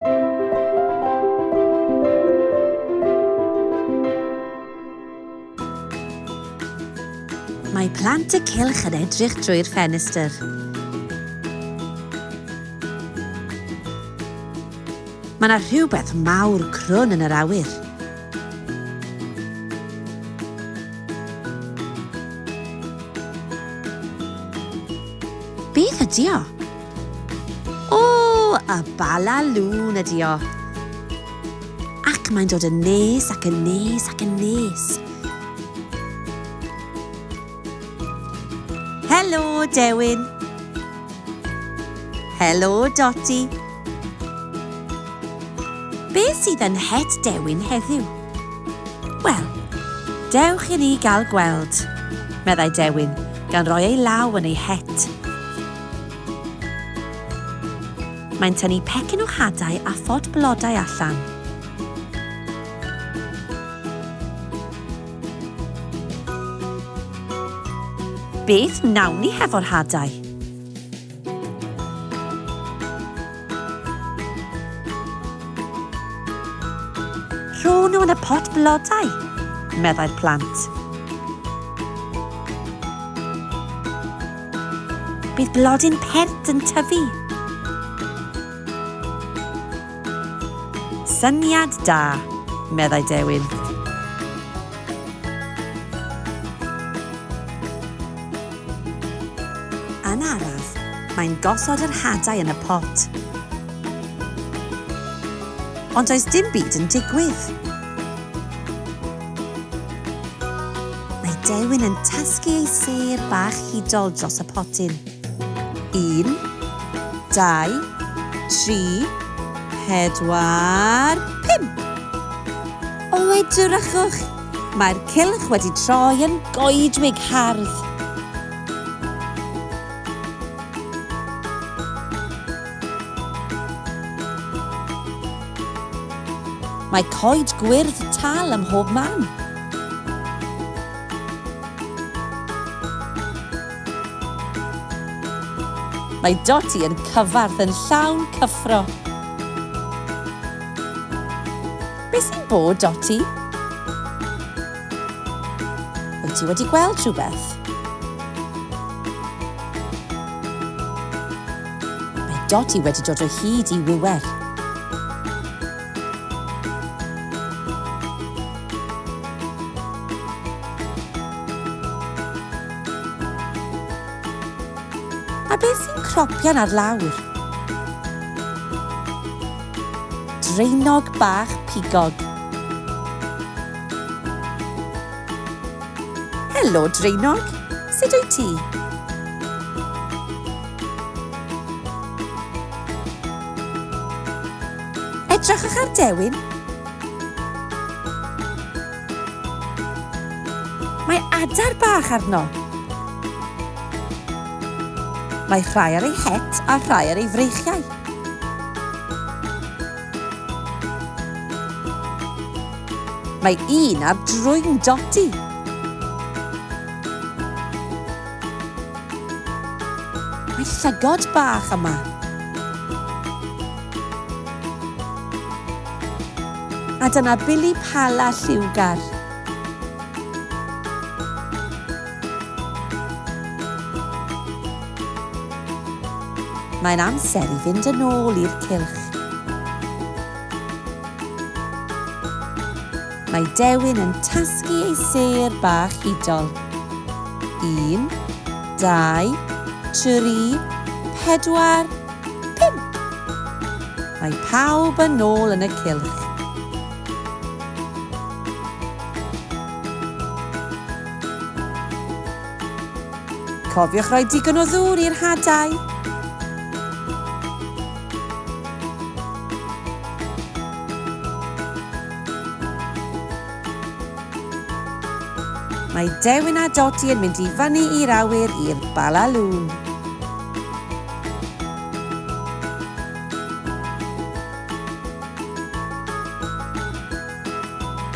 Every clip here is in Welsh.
Mae plant y cylch yn edrych drwy'r ffenestr. Mae yna rhywbeth mawr crwn yn yr awyr. Beth ydy o? O! Y Bala Lŵn ydi o. Ac mae'n dod yn nes ac yn nes ac yn nes. Helo, Dewin. Helo, Doti. Be sydd yn het Dewin heddiw? Wel, dewch i ni gael gweld, meddai Dewin, gan roi ei law yn ei het. Mae'n tynnu pecyn o hadau a phot blodau allan. Beth wnawn ni hefo'r hadau? Rho nhw yn y pot blodau, meddai'r plant. Bydd blodyn pert yn tyfu. Syniad da, meddai Dewin. Yn araf, mae'n gosod yr hadau yn y pot. Ond does dim byd yn digwydd. Mae Dewin yn tasgu ei sêr bach hudol dros y potyn. Un, dau, tri, pedwar, pump! O, edrychwch! Mae'r cylch wedi troi yn goedwig hardd. Mae coed gwyrdd tal ym mhob man. Mae Dotty yn cyfarth yn llawn cyffro. Be sy'n bod, Dotty? Wyt ti wedi gweld rhywbeth? Mae Dodi wedi dod o hyd i wiwer. A beth sy'n cropian ar lawr? Draenog bach pigog. Helo, Draenog. Sut wyt ti? Edrychwch ar dewin. Mae adar bach arno. Mae rhai ar ei het a rhai ar ei freichiau. Mae un ar drwy'n dodi. Mae llygod bach yma. A dyna bili pala lliwgar. Mae'n amser i fynd yn ôl i'r cylch. Mae Dewin yn tasgu ei sêr bach hudol. Un, dau, tri, pedwar, pump! Mae pawb yn ôl yn y cylch. Cofiwch roi digon o ddŵr i'r hadau. Mae Dewin a Dodi yn mynd i fyny i'r awyr i'r balalŵn.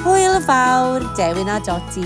Hwyl fawr, Dewin a Dodi.